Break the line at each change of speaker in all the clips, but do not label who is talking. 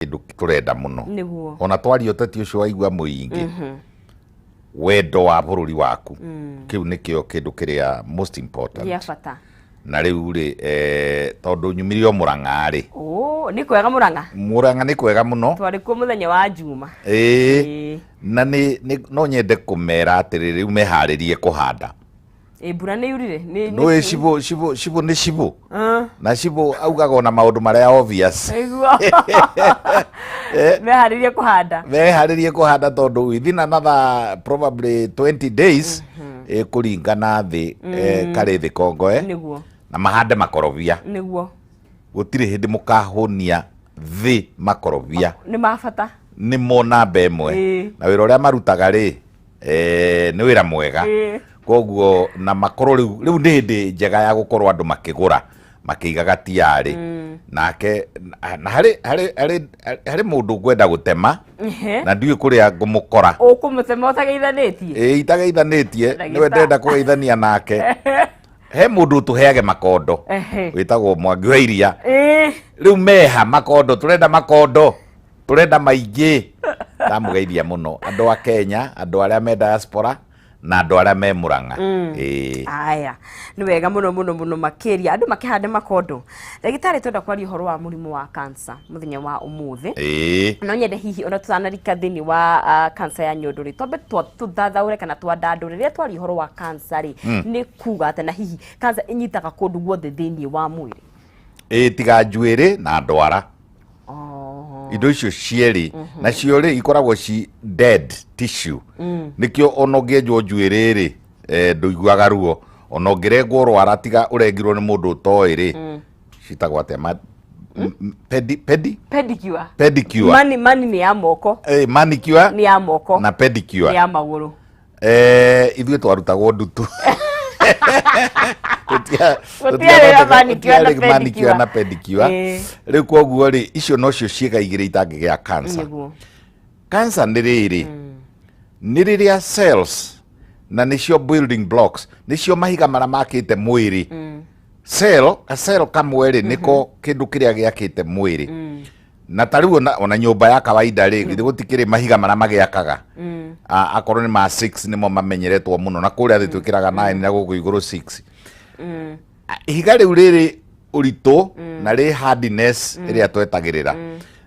kĩndũ tũrenda mũno nĩguo ona twaria ũteti ũcio waigua mũingĩ wendo wa bũrũri waku kĩu nĩkĩo kĩndũ kĩrĩa most important gĩa bata na rĩu rĩ eh, tondũ nyumire o mũrang'a rĩ Ũ, nĩ kwega mũrang'a mũrang'a nĩ kwega mũno twarĩ kuo mũthenya wa njuma ĩĩ Ĩĩ. na nĩ nĩ- no nyende kũmera atĩrĩ rĩu meharĩrie kũhanda Ĩ, mbura nä yurire nä nä nä cibo cibo cibo nä cibo na cibo augaga ona maå ndå marä a obvious iguo meharä rie kå handa meharĩrie kũhanda tondũ within another probably 20 days eh, kũringana thĩ eh, karĩ thĩ kongoe nä guo na mahande makorobia nä guo gũtirĩ hĩndĩ mũkahũnia thĩ makorobia nä mabata nĩ mo namba ĩmwe Ĩĩ. na wĩra ũrĩa marutaga rĩ eh, nĩ wĩra mwega Ĩĩ. koguo na makorwo rĩu rĩu nĩ hĩndĩ njega ya gũkorwo andũ makĩgũra makĩigaga tiarĩ nake na- na harĩ harĩ harĩ harĩ mũndũ ngwenda gũtema Ehe. na ndiũĩ kũrĩa ngũmũkora ũkũmũtema ũtageithanĩtie Ĩĩ, itageithanĩtie nĩwe Ndagĩtarĩ. ndĩrenda kũgeithania nake he mũndũ ũtũheage makondo Ehe. wĩtagwo mwangi wa iria Ĩĩ. rĩu meha makondo tũrenda makondo turenda maingĩ ndamugeithia muno andu a Kenya andu aria me diaspora na andu aria me muranga mm. eh aya ni wega muno muno muno makiria andu makihande makondo ndagitari twenda kwaria horo wa murimu wa cancer muthenya wa umuthi eh no nyende hihi ona tutanarika thini wa uh, cancer ya nyondo ri twambe tuthathaure kana twandandu riria twari horo wa cancer ri mm. ni kuga ati na hihi cancer inyitaga kundu guothe thini wa mwiri eh tiga njuiri na ndwara Oh. indo icio cierĩ nacio rĩ ikoragwo ci dead tissue nĩkĩo ona ũngĩenjwo njuĩrĩ rĩ eh, ndũiguaga ruo ona ũngĩrengwo rwara tiga ũrengirwo nĩ mũndũ ũtoĩ rĩ citagwo atĩa ma- m- m- pedi pedi Pedicure. pedicure Mani mani ni ya moko. eh, manicure Ni ya moko. na pedicure Ni ya maguru. Eh, ithuĩ twarutagwo ndutu Gũtia- Gũtiarĩ gũtiarĩ- na manicure na gũtiarĩ manicure pedicure. na pedicure Ĩĩ. rĩu koguo rĩ icio nocio ciĩga igĩrĩ itangĩgĩa cancer nĩguo cancer nĩ rĩrĩ nĩ rĩrĩa cells na nĩcio building blocks nĩcio mahiga marĩa makĩte mwĩrĩ cell ka cell kamwe rĩ nĩko kĩndũ kĩrĩa gĩakĩte mwĩrĩ na ta riu ona ona nyumba ya kawaida ri githĩ gũtikĩrĩ mahiga marĩa magĩakaga A- akorwo nĩ ma 6 nĩmo mamenyeretwo mũno na kũrĩa thĩ twĩkĩraga 9 na gũkũ igũrũ 6 A- ihiga rĩu rĩrĩ ũritũ na rĩ hardness ĩrĩa twetagĩrĩra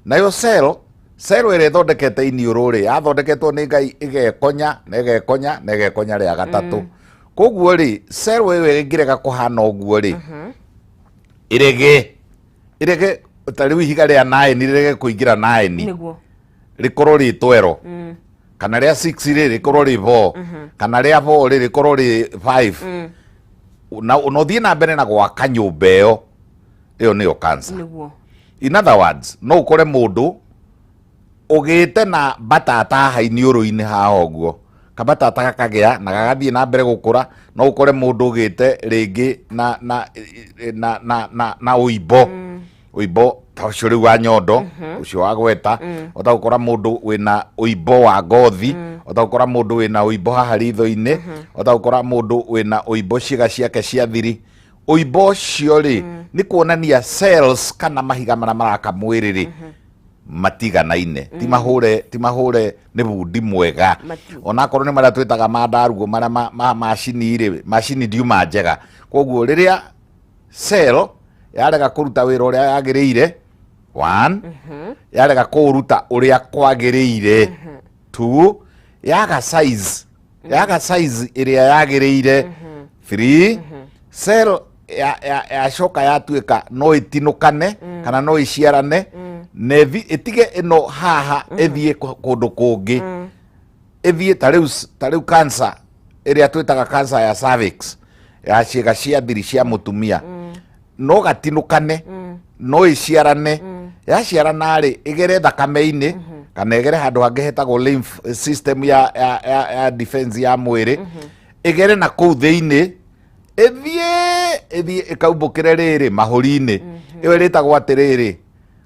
nayo cell cell ĩrĩa ĩthondekete iniũrũ rĩ yathondeketwo nĩ ngai ĩgekonya na ĩgekonya na ĩgekonya rĩa gatatũ koguo rĩ cell ĩyo ĩngĩrega kũhana ũguo rĩ ĩrege irege ta rĩu ihiga rĩa naeni rĩrege kũingĩra naeni nĩguo rĩkorwo rĩ twero Mm. kana rĩa 6 rĩ rĩkorwo rĩ 4 kana rĩa 4 rĩ rĩkorwo rĩ 5 Mm. na na ũthiĩ na mbere na gwaka nyũmba ĩyo ĩyo nĩyo cancer nĩguo in other words no ũkore mũndũ ũgĩte na mbatata haha iniũrũ-inĩ haha ũguo kambatata gakagĩa na gagathiĩ na mbere gũkũra no ũkore mũndũ ũgĩte rĩngĩ na na na na na, na ũimbo ũimbo ta ũcio rĩu wa nyondo ũcio wa gweta ũtagũkora mũndũ wĩna ũimbo wa ngothi ũtagũkora mũndũ wĩna ũimbo haha ritho-inĩ ũtagũkora mũndũ wĩna ũimbo ciĩga ciake cia thiri ũimbo ũcio rĩ nĩ kuonania cells kana mahiga marĩa maraka mwĩrĩ rĩ matiganaine ti mahũre ti mahũre nĩ bundi mwega Mati- onakorwo nĩ marĩa twĩtaga ma ndaruo marĩa ma- ma macini rĩ macini ndiuma njega koguo rĩrĩa cell yarega kũruta wĩra ũrĩa yagĩrĩire one yarega kũũruta ũrĩa kwagĩrĩire two yaga size yaga size ĩrĩa yagĩrĩire free cell ya- ya- yacoka yatuĩka no ĩtinũkane kana no ĩciarane na ĩthi- ĩtige ĩno haha ĩthiĩ kũ- kũndũ kũngĩ ĩthiĩ ta rĩu s- ta rĩu cancer ĩrĩa twĩtaga cancer ya cervix ya ciĩga cia thiri cia mũtumia no gatinũkane mm. no ĩciarane mm. yaciarana rĩ ĩgere thakame-inĩ mm -hmm. kana ĩgere handũ hangĩ hetagwo lymph system ya, ya, ya, ya defense ya mwĩrĩ mm -hmm. ĩgere na kũu thĩinĩ ĩthiĩ ĩthiĩ ĩkaumbũkĩre rĩrĩ mahũri-inĩ mm -hmm. ĩyo ĩrĩtagwo atĩrĩrĩ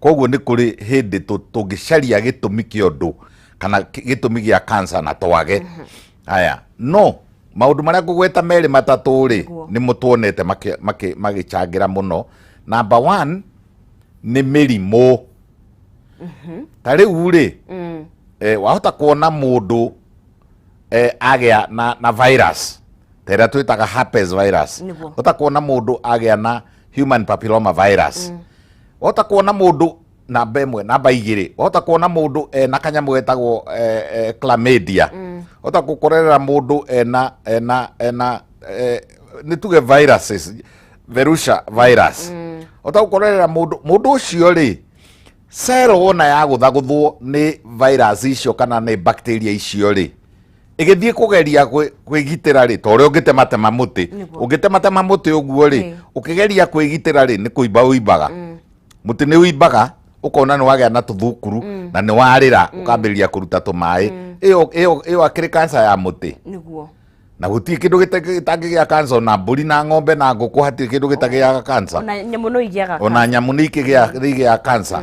Koguo nĩ kũrĩ hĩndĩ tũngĩcaria gĩtũmi kĩa ũndũ kana gĩtũmi gĩa kansa na twage haya no maũndũ marĩa ngũgweta merĩ matatũ rĩ nĩ mũtuonete magĩcangĩra mũno namba one nĩ mĩrimũ mhm. ta rĩu rĩ mm. eh, wahota kuona mũndũ eh, agĩa na, na virus ta ĩrĩa twĩtaga herpes virus ũtakuona mũndũ agĩa na human papilloma virus mm. wahota kuona mundu namba imwe namba igiri wahota kuona mundu ena kanyamu getagwo eh, eh, chlamydia wahota gukorerera mundu ena ena ena eh, ni tuge viruses verusha virus wahota gukorerera mundu mundu ucio ri cero wona yaguthaguthwo ni virus icio kana ni bacteria icio ri ĩgĩthiĩ kũgeria kwĩ- kwĩgitĩra rĩ ta ũrĩa ũngĩtematema mũtĩ Nĩguo. ũngĩtematema mũtĩ ũguo rĩ Ĩĩ. ũkĩgeria kwĩgitĩra rĩ nĩ kũimba ũimbaga mũtĩ nĩ ũimbaga ũkona nĩ wagĩa na tũthukuru na nĩ warĩra ũkambĩrĩria kũruta tũmaĩ ĩyo ĩyo ĩyo akĩrĩ kanca ya mũtĩ nĩguo na gũtirĩ kĩndũ gĩta- gĩtangĩgĩa kanca ona mbũri na ng'ombe na ngũkũ hatirĩ kĩndũ gĩtagĩaga kanca ona nyamũ no igĩaga ona nyamũ nĩ ikĩgĩa- nĩ igĩaga kanca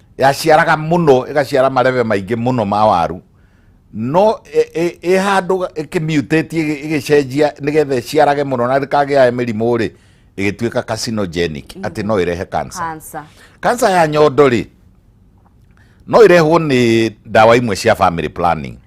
yaciaraga mũno ĩgaciara marebe maingĩ mũno ma waru no ĩ handå ĩkĩmiutĩtie ĩgĩcenjia nĩgetha ĩciarage mũno na ndĩkagĩae mĩrimũ rĩ ĩgĩtuĩka carcinogenic mm-hmm. atĩ no ĩrehe cancer cancer ya nyondo rĩ no ĩrehwo nĩ ndawa imwe cia family planning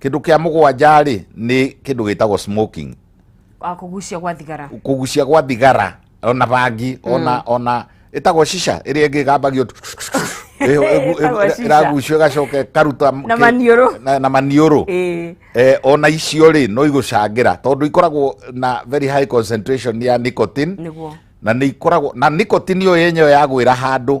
Kĩndũ kĩa mũgwanja rĩ nĩ kĩndũ gĩtagwo smoking. Ah, kũgucia gwa thigara. Kũgucia gwa thigara ona bangi ona mm. ona ĩtagwo shisha ĩrĩa ĩngĩ gambagio ĩragucio ĩgacoka karuta na maniũrũ eh, ona icio rĩ no igũcangĩra tondũ ikoragwo na very high concentration ya nicotine na nä ikoragwo na nicotine ä yo yenyewe yagwä ra handå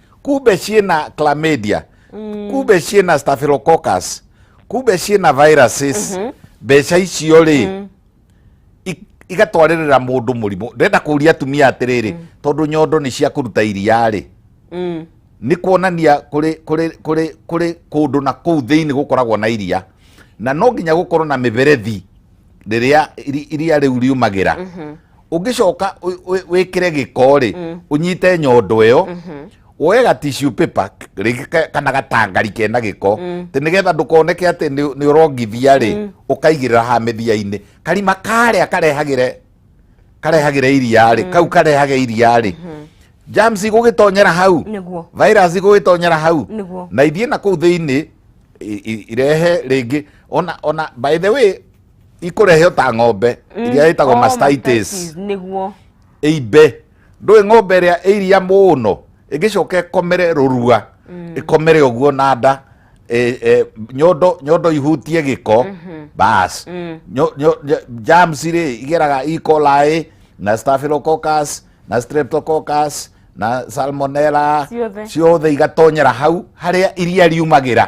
kube ciĩna chlamydia kube ciĩna staphylococcus kube ciĩna viruses mbeca icio rĩ i- igatwarĩrĩra mũndũ mũrimũ ndĩrenda kũria atumia atĩrĩrĩ tondũ nyondo nĩ cia kũruta iria rĩ Mm. nĩ kuonania kũrĩ kũrĩ kũrĩ kũrĩ kũndũ na kũu thĩinĩ gũkoragwo na iria na no nginya gũkorwo na mĩberethi rĩrĩa iri- iria rĩu riumagĩra ungicoka wikire giko ri mm. unyite nyondo iyo mm-hmm. woe ga tissue paper kana gatangari kena giko mm. ti nigetha ndukoneke ati ni urongithia ri mm. ukaigirira ha mithia-ini karima karia karehagire karehagire iria ri kau karehage iria ri mm-hmm. germs igugitonyera hau virus igugitonyera hau na ithie na kuu thiini irehe ringi ona ona by the way ikũrehe o ta ng'ombe mm, iria ĩtagwo mastitis nĩguo ĩimbe ndũĩ ng'ombe ĩrĩa ĩiria mũno ĩngĩcoka ĩkomere rũrua mm. ĩkomere ũguo na nda e, e, nyondo nyondo ihutie gĩko mhm. bas mm. jams rĩ igeraga E. coli na staphylococcus na streptococcus na salmonella ciothe igatonyera hau harĩa iria riumagĩra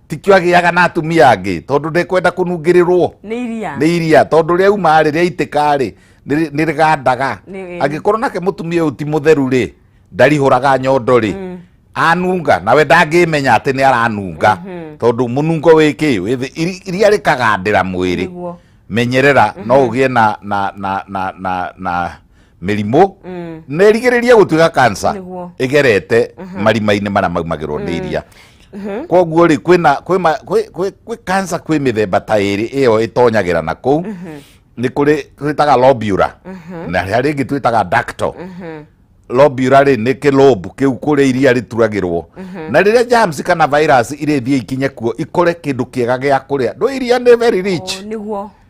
tikio agĩaga na atumia angĩ tondũ ndekwenda kũnungĩrĩrwo nĩ iria nĩ iria tondũ rĩa uma rĩ rĩa itĩka rĩ nĩ nĩ rĩgandaga Nĩ- angĩkorwo nake mũtumia ũyũ ti mũtheru rĩ ndarihũraga nyondo rĩ anunga nawe ndangĩmenya atĩ nĩ aranunga tondũ mũnungo wĩ kĩ wĩ thĩ- iri- iria rĩkagandĩra mwĩrĩ Nĩguo. menyerera no ũgĩe na na na na na na mĩrimũ na ĩrigĩrĩrie gũtuĩka kansa Nĩguo. ĩgerete marima-inĩ marĩa maumagĩrwo nĩ iria koguo rĩ kwĩna kwĩ ma- kwĩ- kwĩ- kwĩ kansa kwĩ mĩthemba ta ĩrĩ ĩyo ĩtonyagĩra na kũu nĩ kũrĩ twĩtaga lobura na harĩa rĩngĩ twĩtaga ductal lobura rĩ nĩ kĩlũmbu kĩu kũrĩa iria rĩturagĩrwo na rĩrĩa germs kana virus irĩthiĩ ikinye kuo ikore kĩndũ kĩega gĩa kũrĩa ndũ iria nĩ very rich nĩguo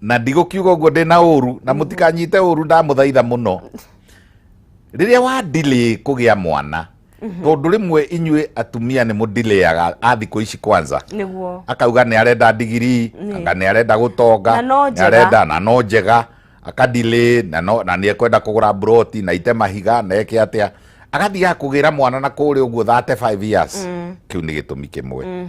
na ndigũkiuga ũguo ndĩ na ũru na mũtikanyite ũru ndamũthaitha mũno rĩrĩa wa delay kũgĩa mwana tondũ rĩmwe inyuĩ atumia nĩ mũdilayaga a thikũ ici kwanza nĩguo akauga nä arenda ndigiri anga nä arenda gå tonga Na no nĩ njega. arenda na no njega akadilä na no- na nä ekwenda kå gå ra mburoti na ite mahiga na eke atä a agathiaga kå gä ra mwana na kå rä å guo 35 years kä u nä gä tå mi kä mwe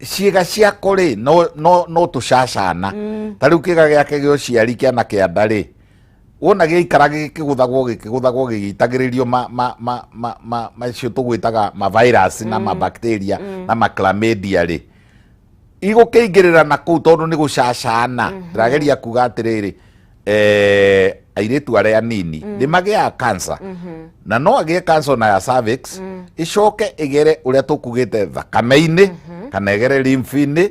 ciĩga ciako rĩ no, no, no tũcacana mm. ta rĩu kĩga gĩake gĩa ũciari kĩana kĩa nda rĩ wona gĩikara gĩkĩgũthagwo gĩkĩgũthagwo gĩgĩitagĩrĩrio macio tũgwĩtaga mavirus na mm. mabacteria mm. na maclamadia rĩ igũkĩingĩrĩra na kũu tondũ nĩ gũcacana mm-hmm. ndĩrageria kuga atĩrĩrĩ eh, airĩtu arĩa anini mm. nĩ magĩaga kansa mm -hmm. na no agĩe kansa na ya cervix mm. ĩcoke ĩgere ũrĩa tũkugĩte thakame-inĩ mm -hmm. kana ĩgere lymph-inĩ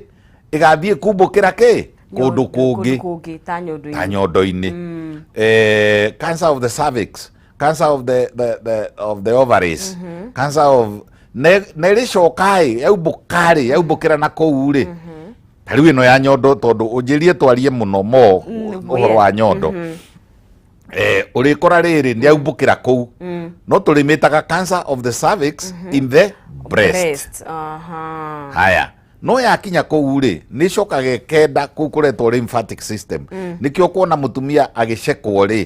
ĩgathiĩ kumbũkĩra kĩ kũndũ kũngĩ ta nyondo-inĩ mm. eh, cancer of the cervix cancer of the, the, the, of the ovaries mm -hmm. cancer of nä rä coka rä yaumbå ka rä yaumbå kä ra na kå u rä mm -hmm. ta rĩu ĩno ya nyondo tondũ ũnjĩrie twarie mũno mo Mm, ũhoro wa nyondo Mhm. eh, ũrĩkora rĩrĩ nĩ aumbũkĩra kũu Mm. no tũrĩmĩtaga cancer of the cervix in the breast Breast, aha. haya no yakinya kũu rĩ nĩ ĩcokaga ĩkenda kũu kũretwo lymphatic system nĩkĩo kuona mũtumia agĩcekwo rĩ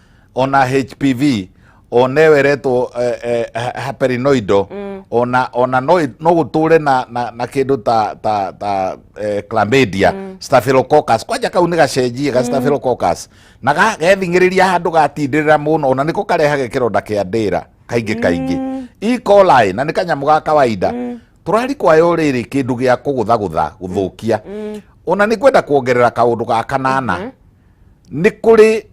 ona hpv ona ĩyo ĩretwo eh, eh, ha- haperinoido ona ona no ĩ- no gũtũre na na, na kĩndũ ta ta ta eh, chlamydia staphylococcus kwanja kau nĩ gacenjie ga staphylococcus na ga- gethingĩrĩria handũ gatindĩrĩra mũno ona nĩko karehage kĩronda kĩa ndĩra kaingĩ kaingĩ E. coli na nĩ kanyamũ ga kawaida tũrari kwayo rĩrĩ kĩndũ gĩa kũgũthagũtha gũthũkia mm. ona nĩ kwenda kuongerera kaũndũ ga kanana mm -hmm. nĩ kũrĩ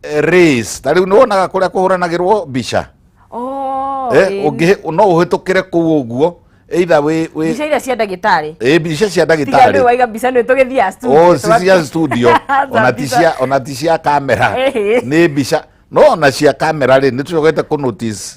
eh, race ta rĩu nĩ wonaga kũrĩa kũhũranagĩrwo mbica oh, eh, ũngĩ no ũhĩtũkĩre kũu ũguo either we we mbica iria cia ndagĩtarĩ eh mbica cia ndagĩtarĩ rĩu waiga mbica nĩ tũgĩthiaga studio oh si cia studio ona ti cia ona ti cia kamera nĩ mbica no ona cia kamera rĩ nĩ tũcogete kũ notice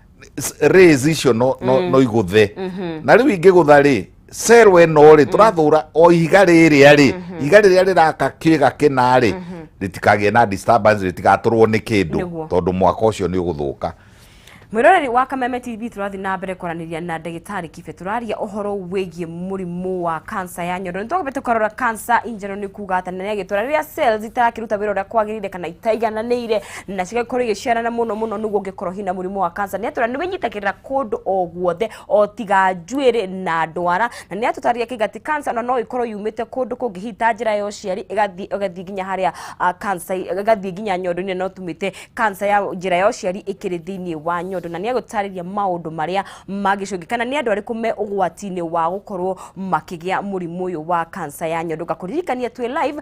s- rays icio no, no, no igũthe na rĩu ingĩgũtha rĩ cero ĩno rĩ tũrathũra o ihiga rĩrĩa rĩ ihiga rĩrĩa rĩraka kĩga kĩna rĩ rĩtikagĩe na disturbance rĩtigatũrwo nĩ kĩndũ Nĩguo. tondũ mwaka ũcio nĩ ũgũthũka mwĩroreri wa kameme tv tũrathiĩ na mbere kwaranĩria na ndagĩtarĩ kibe tũraria ũhoro wĩgiĩ mũrimũ wa kansa ya nyondo nĩtwagĩte tũkarora kansa injero nĩ kuga atĩ nĩ agĩtũra rĩrĩa cells itarakĩruta wĩra ũrĩa kwagĩrĩire kana itaigananĩire na cigagĩkorwo igĩciarana mũno mũno nĩguo ũngĩkorwo hina mũrimũ wa kansa nĩ atwĩra nĩ wĩnyitagĩrĩra kũndũ o guothe o tiga njuĩrĩ na ndwara na nĩ atũtarĩria kĩga atĩ kansa ona no ĩkorwo yumĩte kũndũ kũngĩ hihi ta njĩra ya ũciari ĩgathiĩ ĩgathiĩ nginya harĩa ah, kansa ĩgathiĩ nginya nyondo-inĩ no tumĩte kansa ya njĩra ya ũciari ĩkĩrĩ thĩinĩ wa nyondo na nĩ agũtarĩria maũndũ marĩa magĩcũngĩ kana nĩ andũ arĩkũ me ũgwati-inĩ wa gũkorwo makĩgĩa mũrimũ ũyũ wa kansa ya nyondo ngakũririkania twĩ live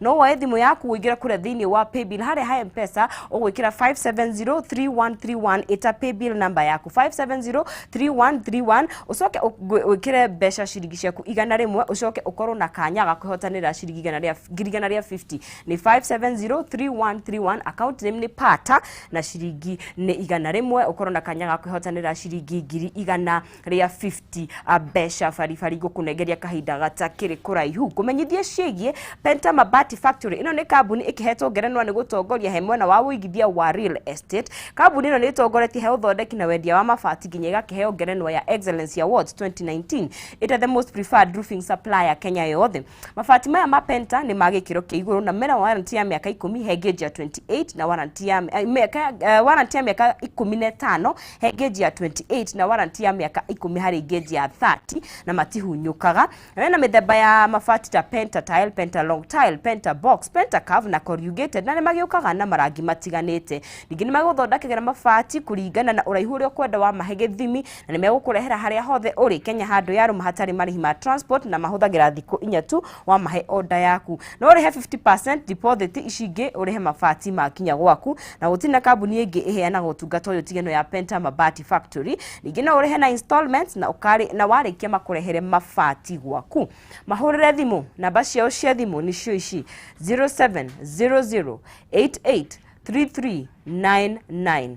no woe thimũ yaku ũingĩre kũrĩa thĩinĩ wa paybill harĩa ha mpesa ũgwĩkĩra 570331 ĩta paybill number yaku 570331 ũcoke ũgwĩ- wĩkĩre mbeca ciringi ciaku igana rĩmwe ũcoke ũkorwo na kanya ga kwĩhotanĩra ciringi igana rĩa ngiri igana rĩa 50 nĩ 570331 account name nĩ pata na ciringi nĩ igana rĩmwe ũkorwo na kanya ga kwĩhotanĩra ciringi ngiri igana rĩa 50 a mbeca baribari ngũkũnengeria kahinda gatakĩrĩ kũraihu ngũmenyithie ciĩgiĩ Penta Mabati Factory ĩno nĩ kambuni ĩkĩhetwo ngerenwa nĩ gũtongoria he mwena wa ũigithia wa real estate kambuni ĩno nĩ ĩtongoretie he ũthondeki na wendia wa mabati nginya ĩgakĩheo ngerenwa ya Excellence Awards 2019 ĩta the most preferred roofing supplier Kenya yothe Mabati maya ma Penta nĩ ma gĩkĩro kĩa igũrũ na mena warranty ya mĩaka ikũmi he ngeji ya 28 na warranty ya eh, mĩaka eh, warranty ya mĩaka ikũmi na ĩtano he ngeji ya 28 na warranty ya mĩaka ikũmi harĩ ngeji ya 30 na matihunyũkaga. Na mena mĩthemba ya mabati ta Penta tile, Penta long tile, Penta box, Penta curve na corrugated na nĩ magĩũkaga na marangi matiganĩte. Ningĩ nĩ magũthondekagĩra mabati kũringana na ũraihu ũrĩa ũkwenda wa mahe gĩthimi na nĩ megũkũrehera harĩa hothe ũrĩ Kenya handũ ya rũma hatarĩ marĩhi ma transport na mahũthagĩra thikũ inya tu wamahe oda yaku. No ũrĩhe 50% deposit ici ingĩ ũrĩhe mabati makinya gwaku na gũtirĩ na kambuni ĩngĩ ĩheanaga ũtungata ũyũ tigano ya Penta Mabati Factory. Ningĩ no ũrĩhe na installments na, ũkarĩ, na warĩkia makũrehere mabati gwaku. Mahũrĩre thimũ, namba ciao cia thimũ nĩcio ici 0700 88 3399.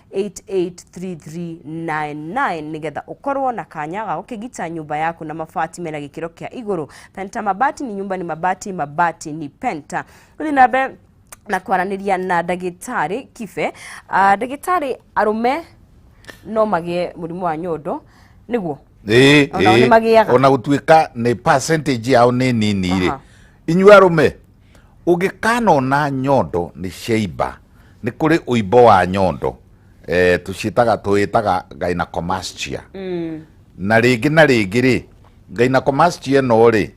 883399 nigetha ukorwo na kanya ga gukigita nyumba yaku na mabati mena gikiro kia iguru penta mabati ni nyumba ni mabati mabati ni penta guthi na mbere na kwaraniria na ndagitari kibe Ah, ndagitari arume no magie murimu wa nyondo niguo Ĩĩ, Onao ĩĩ. nĩmagĩaga. ona gũtuĩka nĩ percentage yao nĩ nini rĩ Aha. inyuĩ arũme ũngĩkanona nyondo nĩ ciaimba nĩ kũrĩ ũimbo wa nyondo eh, tũciĩtaga tũĩtaga gynecomastia na rĩngĩ na rĩngĩ rĩ gynecomastia ĩno rĩ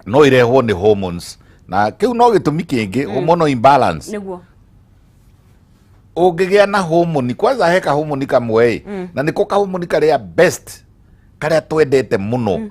no ĩrehwo nĩ hormones na kĩu no gĩtũmi kĩngĩ hormonal imbalance nĩguo ũngĩgĩa na homoni kwanza he kahomoni kamwe ĩ na nĩko kahomoni karĩa best karĩa twendete mũno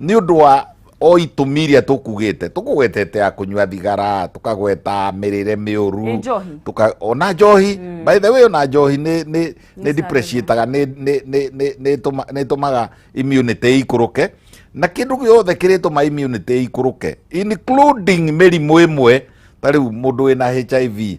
nä å ndå wa o itũmi iria tũkugĩte tũkũgwetete ya kũnyua thigara tũkagweta mĩrĩre mĩũru Ĩ njohi? tuka ona njohi mm. by the way ona njohi nĩ nĩ Nĩ nĩ depreciataga nĩ nĩ nĩ nĩ- nĩ tũma- nĩ tũmaga immunity ikũrũke na kĩndũ gĩothe kĩrĩtũma immunity ikũrũke including mĩrimũ ĩmwe ta rĩu mũndũ wĩna HIV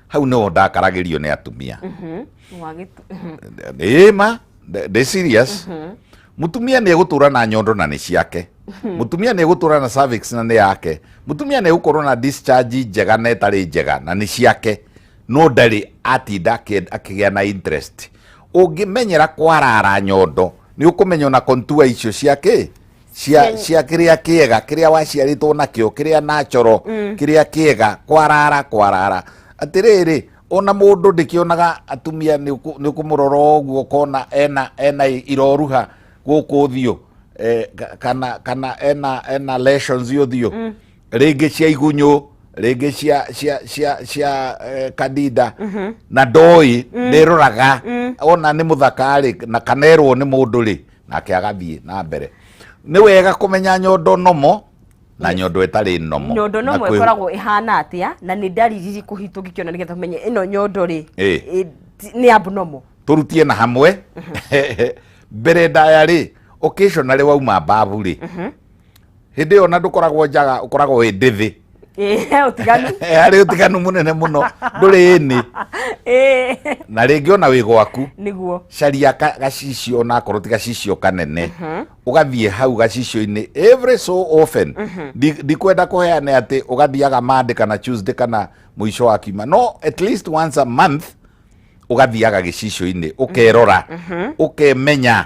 hau no ndakaragĩrio nĩ atumia mhm. ĩĩ ma ndĩ serious mhm. mutumia nä egå na nyondo na nä ciake mhm. mutumia nä egå na cervix na nä yake mutumia nä egå na discharge njega na ĩtarĩ njega na nĩ ciake no ndarĩ atinda akĩgĩa na interest ũngĩmenyera kwarara nyondo nĩ ũkũmenya na kontua icio ciake cia Ken- cia kiria kiega kiria waciaritwo nakio kiria natural kiria kiega kwarara kwarara atiriri ona mundu ndikionaga atumia ni ukumurora uguo kona ena ena iroruha guku uthio eh, ka- kana kana ena ena lessons uthio ringi cia igunyu ringi cia cia cia cia eh, kadida na ndoi ndiroraga ona ni muthaka ri na kanerwo ni mundu ri nake agathiĩ na mbere nĩ wega kũmenya nyondo nomo na nyondo ĩtarĩ nomo nyondo nomo ĩkoragwo ĩhana atĩa na nĩ ndariri irĩkũ hitũ ngĩkĩona nĩgetha tumenye ĩno nyondo rĩ nĩ abnormal tũrutie na hamwe mhm. mbere ndaya rĩ occasionally wauma mbabu rĩ mhm. hĩndĩ ĩyo na ndũkoragwo njaga ũkoragwo wĩ ndĩthĩ Eh, utiganu Eh, harĩ ũtiganu mũnene mũno ndũrĩ ĩnĩ Eh, na rĩngĩ ona wĩ gwaku niguo caria ka- gacicio ona akorwo ti gacicio kanene ũgathiĩ hau gacicio-inĩ every so often Ndi- ndikwenda kũheane atĩ ũgathiaga mande kana tuesday kana mũico wa kiuma no at least once a month ũgathiaga gĩcicio-inĩ ũkerora ũkemenya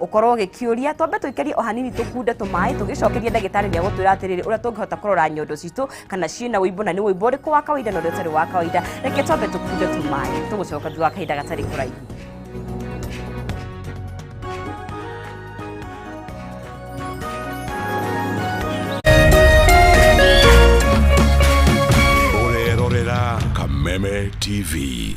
ukorwo ugikiuria twambe tuikerie o hanini tukunde tumai tugicokerie ndagitari ni agutwira atiriri uria tungihota kurora nyondo citu kana ciina uimbu na ni uimbu uriku wa kawaida na uria utari wa kawaida reke twambe tukunde tumai tugucoka thutha wa kahinda gatari kuraihu Orerorera Kameme TV.